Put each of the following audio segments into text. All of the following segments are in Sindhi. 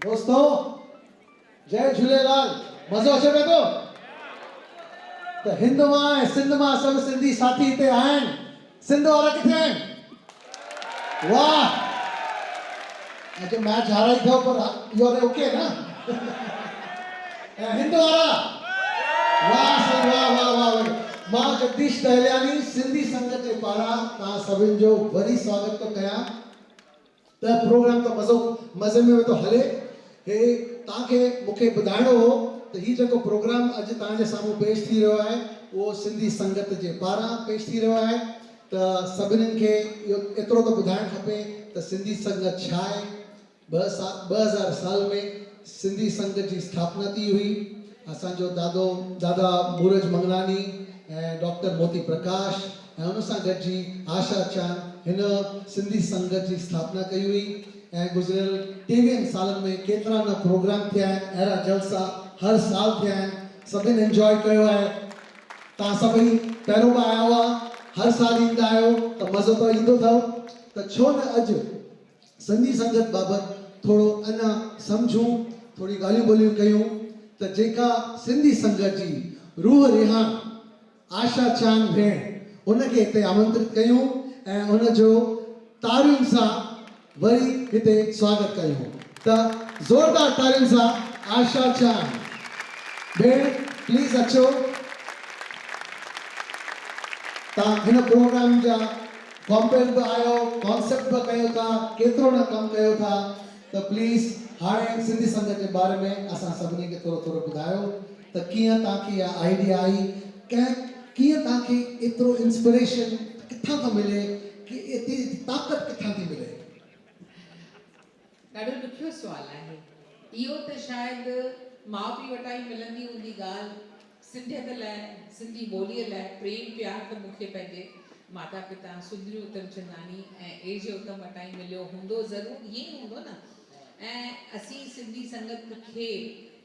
دوستو جئي جهوليلال مزو اچي پئي ٿو ته هند مان ۽ سنڌ مان سڀ سنڌي ساٿي هتي آهن سنڌ وارا ڪٿي آهن واهه اڄ ميچ هارائي ٿو پر يو آر اوڪي نه ۽ هند وارا واهه سائين واهه واهه واهه مان جگديش ٽهلياني سنڌي سنگت جي پاران توهان سڀن جو وري سواگت ٿو ڪيان. ته پروگرام ته مزو مزي ۾ ويندو هلي هي توهان کي مون کي ٻڌائڻو هو ته هي جيڪو پروگرام اڄ توهان جي سامهون پيش ٿي رهيو آهي اهو سنڌي سنگت جي پاران پيش ٿي رهيو آهي ته سڀنن کي اهو ايترو ته ٻڌائڻ کپي ته سنڌي سنگت ڇا آهي ٻه سا ٻه هزار سال ۾ سنڌي سنگت جي اسٿاپنا ٿي هئي اسان جو دادو دادا مورج منگلاني ۽ ڊاڪٽر موتي پرڪاش ۽ ان سان گڏجي آشا چان هن سنڌي سنگت جي اسٿاپنا ڪئي هئي ۽ گذريل ٽيويهن سالن ۾ ڪيترا نه پروگرام ٿيا آهن اهڙا جلسا هر سال ٿيا آهن سڀن انجوائي ڪيو آهي توهان سڀئي پهريون به آيا هئا هر سال ايندا آهيو ته مزو ته ايندو اٿئو ته ڇو نه اڄ سنڌي سنگت بابت ٿورو اڃا سمجهون ٿوري ڳالهيون ٻولهيون ڪيون ته جيڪا سنڌي سنگت جي روح رهاڻ آشا چيان ڀيڻ ان کي هتي آمنترت ڪيون ۽ ان جو تاڙين سان وري هتي سواگت ڪيون ته زوردار تاڙين سان آشا چيان ڀيڻ پليز اچو ته هن پروگرام جا ڪامپيئر به آيو ڪانسيپٽ به ڪيو ٿا ڪيترو نه ڪم ڪيو ٿا. ته پليز هاڻي سنڌي سنگت جي باري ۾ اسان سڀني کي ٿورو ٿورو ٻڌايو ته ڪيئن توهان کي اها آئيڊيا آئي ڪنهن ڪيئن توهان کي ايترو انسپريشن ڪٿان ٿو ملي ڪي ايتري طاقت ڪٿان ٿي ملي. ڏاڍو ڏکيو سوال آهي اهو ته شايد ماء پيء وٽان ئي ملندي هوندي ڳالهه. سنڌيت لاء، سنڌي ٻوليء لاء پريم پيار ته مون کي پنهنجي ماتا پتا سندري اتمچنداڻي ۽ اي جي اتم وٽان ئي مليو هوندو ضرور ائين ئي هوندو نه ۽ اسين سنڌي سنگت کي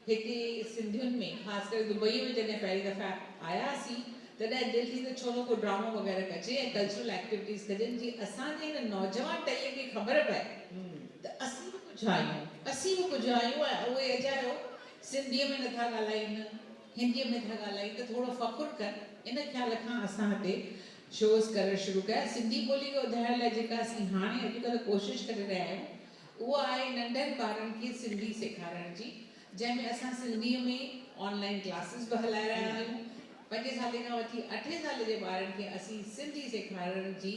هتي سنڌين ۾ خاص ڪري دبئي ۾ جڏهن پهرين دفعي آياسين تڏهن دل ٿي ته ڇو نه ڪو ڊرامو وغيره ڪجي ۽ ڪلچرل ايڪٽيوٽيز ڪجن جي اسان جي هن نوجوان ٽهيء کي خبر پئي ته اسين به ڪجهه آهيون اسين به ڪجهه آهيون ۽ اهو اجايو سنڌيء ۾ نٿا ڳالهائين، هنديء ۾ ٿا ڳالهائين ته ٿورو فخر ڪن، ان خيال کان اسان هتي شوز ڪرڻ شروع ڪيا. سنڌي ٻوليء کي وڌائڻ لاء جيڪا اسين هاڻي اڄڪلهه ڪوشش ڪري رهيا آهيون، اها آهي ننڍن ٻارن کي سنڌي سيکارڻ جي، جنهن ۾ اسان سنڌيء ۾ آن لائين ڪلاسز به هلائي رهيا آهيون. پنجين سالين کان وٺي اٺين سالين جي ٻارن کي اسين سنڌي سيکارڻ جي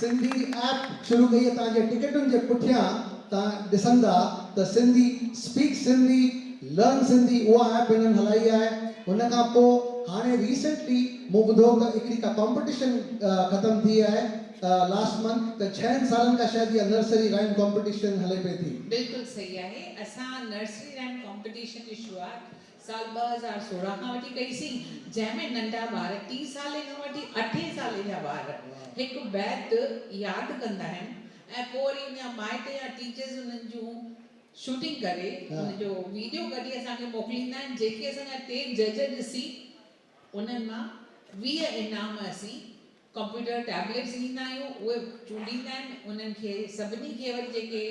سنڌي ايپ شروع ڪئي اتان جي ٽڪيٽن جي پٺيان تان ڏسندا ته سنڌي اسپيڪ سنڌي لرن سنڌي اها ايپ هنن هلائي آهي ان کان پو هاڻي ريسينٽلي مون ٻڌو ته هڪڙي ڪا ڪامپيٽيشن ختم ٿي آهي لاسٽ منٿ ته ڇهن سالن کان شايد اها نرسري رائيم ڪامپيٽيشن هلي پئي ٿي. بلڪل صحيح آهي اسان نرسري رائيم ڪامپيٽيشن جي شروعات سال ٻه هزار سورهن کان وٺي ڪئي سين، جنهن ۾ ننڍا ٻار ٽي سالي کان وٺي اٺين سالي جا ٻار هڪ بيت ياد ڪندا آهن ۽ پوء وري ان جا مائٽ يا ٽيچرز انهن جون شوٽنگ ڪري ان جو ويڊيو ڪڍي اسان کي موڪليندا آهن جيڪي اسان جا ٽي جج ڏسي انهن مان ويهه انعام اسين ڪمپيوٽر ٽيبليٽس ڏيندا آهيون اهي چونڊيندا آهن انهن کي سڀني کي وري جيڪي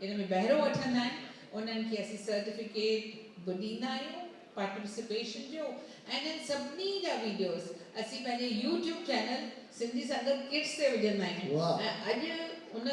ان ۾ بهرو وٺندا آهن انهن کي اسين سرٽيفڪيٽ به ڏيندا آهيون پارٽيسپيشن جو ۽ انهن سڀني جا ويڊيوز اسين پنهنجي YouTube channel Sindhi Sangat kids تي وجهندا آهيون ۽ اڄ ان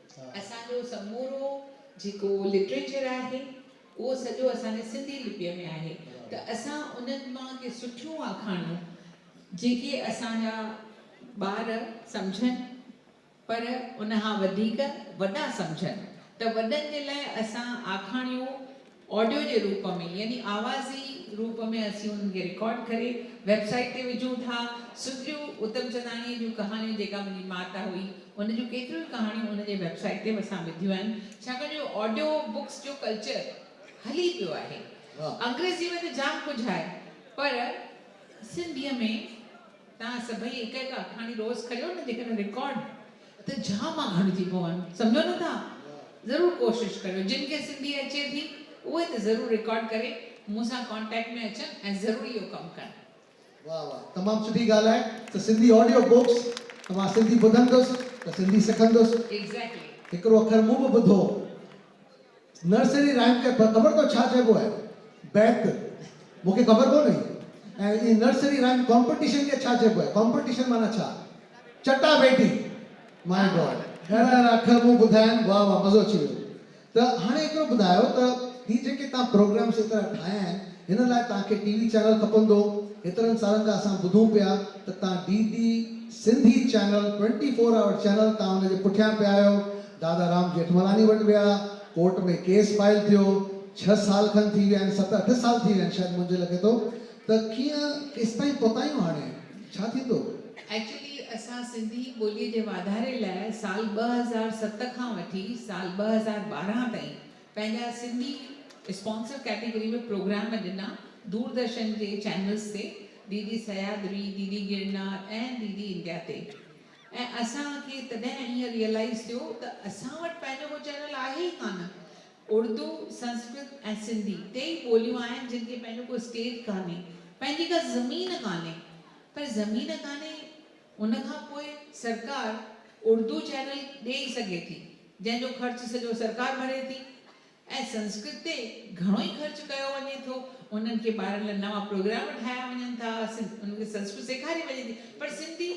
اسان جو سمورو جيڪو لٽريچر آهي اهو سڄو اسان جي سنڌي لپيء ۾ آهي ته اسان انهن مان ڪي سٺيون آکاڻيون جيڪي اسان جا ٻار سمجهن پر ان کان وڌيڪ وڏا سمجهن ته وڏن جي لاء اسان آکاڻيون آڊيو جي روپ ۾ يعني آوازي روپ ۾ اسين انهن کي رڪارڊ ڪري ويب سائيٽ تي وجهون ٿا. سنڌڙيون اتمچنداڻيء جون ڪهاڻيون جيڪا منهنجي مات هئي ان جون ڪيتريون ئي ڪهاڻيون ان جي ويب سائيٽ تي به اسان وڌيون آهن ڇاڪاڻ جو آڊيو بڪس جو ڪلچر هلي پيو آهي انگريزيء ۾ ته جام ڪجهه آهي پر سنڌيء ۾ توهان سڀئي هڪ هڪ آکاڻي روز ڪريو نه جيڪڏهن رڪارڊ ته جهاما کڻجي پون. سمجهو نه ٿا؟ ضرور ڪوشش ڪريو. جن کي سنڌي اچي ٿي اهي ته ضرور رڪارڊ ڪري مون سان ڪانٽيڪٽ ۾ اچن ۽ ضرور اهو ڪم ڪن. واھ واھ تمام سٺي ڳالھ آھي ته سنڌي آڊيو بوڪس ته مان سنڌي ٻڌندس ته سنڌي سکندس. ايگزيڪلي. ھڪڙو اکر مون به ٻڌو. نرسري رائيم کي خبر اٿو ڇا چئبو آهي؟ بيت، مون کي خبر ڪونه هئي. ۽ هي نرسري رائيم ڪامپٽيشن کي ڇا چئبو آهي؟ ڪامپٽيشن معنيٰ ڇا؟ چٽا ڀيٽي، مائي گاڊ. اهڙا اهڙا اکر مون ٻڌايائين، واهه واهه مزو اچي ويو. ته هاڻي ايترو ٻڌايو ته هي جيڪي توهان پروگرامز ايترا ٺاهيا آهن هن لاء توهان کي ٽي وي چينل کپندو؟ هيترن سالن کان اسان ٻڌون پيا ته توهان D D Sindhi channel twenty four hour channel توهان ان جي پٺيان پيا آهيو، دادا رام جيٺملاني وٽ ويا، ڪورٽ ۾ ڪيس فائل ٿيو، ڇهه سال کن ٿي ويا آهن، ست اٺ سال ٿي ويا آهن شايد منهنجي لڳي ٿو، ته ڪيئن ڪيستائين پهتايون هاڻي ڇا ٿيندو؟ ايڪچولي اسان سنڌي ٻولي جي واڌاري لاء سال ٻه هزار ست کان وٺي سال ٻه هزار ٻارهن تائين پنهنجا سنڌي اسپانسر ڪيٽيگري ۾ پروگرام ڏنا دوردرشن جي چينلز تي D D Sahyadri, D D Girnar ۽ D D India تي ۽ اسان کي تڏهن ائين ريئلائيز ٿيو ته اسان وٽ پنهنجو ڪو چينل آهي ئي ڪانه. اردو، سنسڪرت ۽ سنڌي ٽي ئي ٻوليون آهن جن کي پنهنجو ڪو اسٽيج ڪانهي، پنهنجي ڪا زمين ڪانهي. پر زمين ڪانهي ان کان پوء سرڪار اردو چينل ڏئي سگهي ٿي جنهن جو خرچ سڄو سرڪار ڀري ٿي. ۽ سنسڪرت تي گهڻو ئي خرچ ڪيو وڃي ٿو انهن کي ٻارن لاء نوان پروگرام ٺاهيا وڃن ٿا انهن کي سنسڪرت سيکاري وڃي ٿي پر سنڌي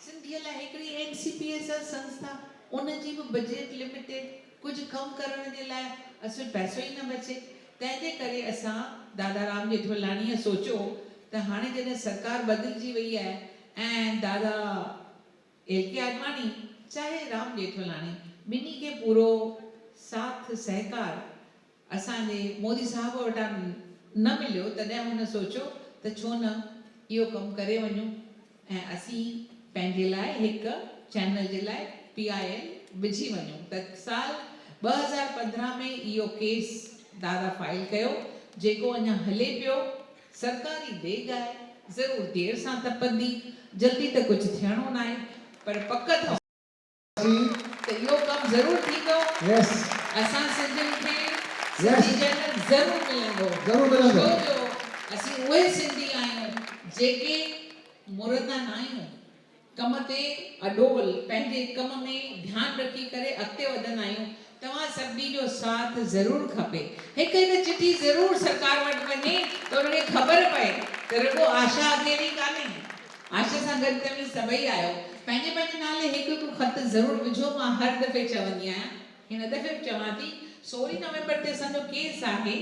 سنڌي لاء هڪڙي N C P S R سنسٿا ان جي به بجيٽ لميٽيڊ ڪجهه ڪم ڪرڻ جي لاء اصل پئسو ئي نه بچي تنهن جي ڪري اسان دادارام ڄيٺملاڻي سوچيو ته هاڻي جڏهن سرڪار بدلجي وئي آهي ۽ دادا ايل ڪي آڏواڻي چاهي رام ڄيٺولاڻي ٻنهي کي پورو ساٿ سهڪار اسان جي مودي صاحب وٽان نه مليو تڏهن هن سوچيو ته ڇو نه اهو ڪم ڪري وڃون ۽ اسين پنهنجي لاء هڪ چينل جي لاء پي آء ايل وجهي وڃون ته سال ٻه هزار پندرهن ۾ اهو ڪيس دادا فائل ڪيو جيڪو اڃا هلي پيو سرڪاري ڊيگهه آهي ضرور دير سان تپندي جلدي ته ڪجهه ٿيڻو ناهي پر پڪ اٿو ته اهو ڪم ضرور ٿيندو اسان سنڌين کي سنڌي جنرل ضرور ملندو ڇو جو اسين اهي سنڌي آهيون جيڪي مرندا ناهيون ڪم تي اڏول پنهنجي ڪم ۾ ڌيان رکي ڪري اڳتي وڌندا آهيون توهان سڀني جو ساٿ ضرور کپي هڪ هڪ چٺي ضرور سرڪار وٽ وڃي ته ان کي خبر پئي ته رڳو آشا اڪيلي ئي ڪانهي آشا سان گڏ توهين سڀئي آهيو پنهنجي پنهنجي نالي هڪ هڪ خط ضرور وجهو مان هر دفعي چوندي آهيان هن دفعي به چوان ٿي سورهين نومبر تي اسان جو ڪيس آهي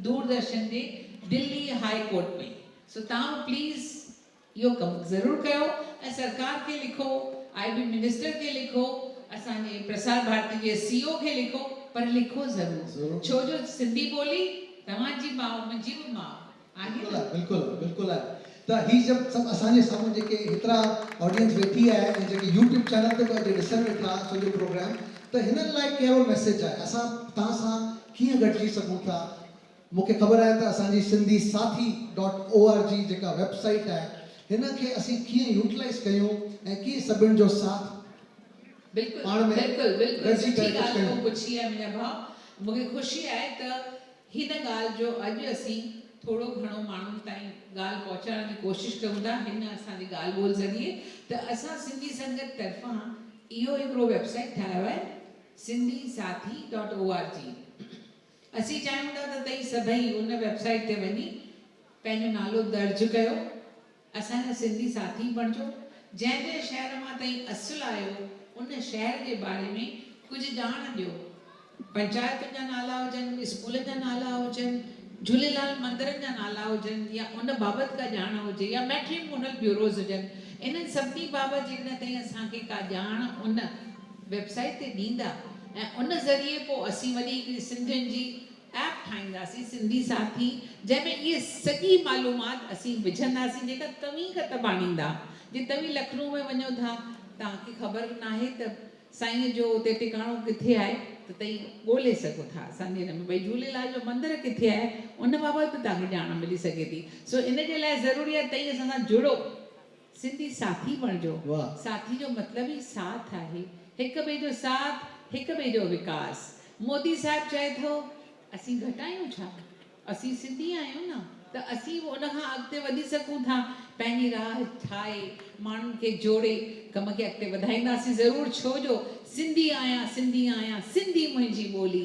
دور درشن جي دلي هاء ڪورٽ ۾ سو توهان به پليز اهو ڪم ضرور ڪيو ۽ سرڪار کي لکو، آء بي منسٽر کي لکو، اسان جي پرسار ڀارتي جي سي او کي لکو پر لکو ضرور ڇو جو سنڌي ٻولي توهان جي ماء منهنجي به ماء آهي نه. بلڪل آهي بلڪل آهي بلڪل آهي ته هي جب سڀ اسان جي سامهون جيڪي هيترا آڊينس ويٺي آهي ۽ جيڪي يوٽيوب چينل تي به اڄ ڏسن ويٺا سڄو پروگرام ته هنن لاء ڪهڙو ميسيج آهي اسان تهان سان ڪيئن گڏجي سگهون ٿا. مون کي خبر آهي ته اسان جي Sindhi Sathi dot O R G جيڪا ويب سائيٽ آهي هن کي اسين ڪيئن يوٽلائيز ڪيون ۽ ڪيئن سڀن جو ساٿ بلڪل پاڻ ۾ بلڪل بلڪل گڏجي سٺي ڪري ڳالهه ڪجهه تو ڪيون. پڇي آهي منهنجا ڀاء مون کي خوشي آهي ته هن ڳالهه جو اڄ اسين ٿورو گهڻو ماڻهن تائين ڳالهه پهچائڻ جي ڪوشش ڪيون ٿا هن اسان جي ڳالهه ٻولهه ذريعي ته اسان سنڌي سنگت طرفان اهو هڪڙو ويب سائيٽ ٺاهيو آهي Sindhi Sathi dot O R G اسين چاهيون ٿا ته توهين سڀئي ان ويب سائيٽ تي وڃي پنهنجو نالو درج ڪيو، اسان جا سنڌي ساٿي بڻجو، جنهن جنهن شهر مان توهين اصل آهيو ان شهر جي باري ۾ ڪجهه ڄاڻ ڏيو، پنچائتن جا نالا هجن، اسڪولن جا نالا هجن، جهوليلال مندرن جا نالا هجن يا ان بابت ڪا ڄاڻ هجي يا ميٽريمونل بيوروز هجن، انهن سڀني بابت جيڪڏهن توهين اسان کي ڪا ڄاڻ ان. ويب سائيٽ تي ڏيندا ۽ ان ذريعي پوء اسين وري هڪڙي سنڌين جي ايپ ٺاهينداسين سنڌي ساٿي جنهن ۾ اهي سڄي معلومات اسين وجهنداسين جيڪا توهين ڪتباڻيندا جي توهين لکنو ۾ وڃو ٿا توهان کي خبر ناهي ته سائين جو اتي ٽڪاڻو ڪٿي آهي ته تئي ڳولي سگهو ٿا اسان جي هن ۾ ڀئي جهوليلال جو مندر ڪٿي آهي ان بابت به توهان کي ڄاڻ ملي سگهي ٿي سو ان جي لاء ضروري آهي تئي اسان سان جڙو. سنڌي ساٿي بڻجو، ساٿي جو مطلب ئي ساٿ آهي، هڪ ٻئي جو ساٿ، هڪ ٻئي جو وڪاس، مودي صاحب چئي ٿو اسين گهٽ آهيون ڇا؟ اسين سنڌي آهيون نه ته اسين به ان کان اڳتي وڌي سگهون ٿا، پنهنجي راهه ٺاهي، ماڻهن کي جوڙي ڪم کي اڳتي وڌائينداسين ضرور ڇو جو سنڌي آهيان، سنڌي آهيان، سنڌي منهنجي ٻولي.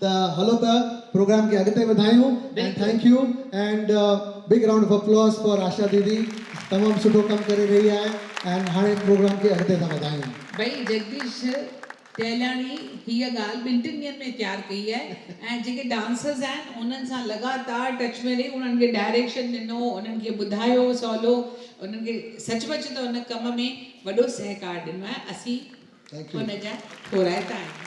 ته هلو ته پروگرام کي اڳتي وڌايون ۽ thank you and big round of applause for Asha didi تمام سٺو ڪم ڪري رهي آهي اينڊ هاڻي پروگرام کي اڳتي ٿا وڌايون. ڀئي جگديش ٽهلياڻي هيء ڳالهه ٻن ٽن ڏينهن ۾ تيار ڪئي آهي ۽ جيڪي ڊانسرز آهن انهن سان لڳاتار ٽچ ۾ رهي انهن کي ڊائريڪشن ڏنو انهن کي ٻڌايو سولو انهن کي سچ پچ ته ان ڪم ۾ وڏو سهڪار ڏنو آهي اسين ان جا ٿورائتا آهيون.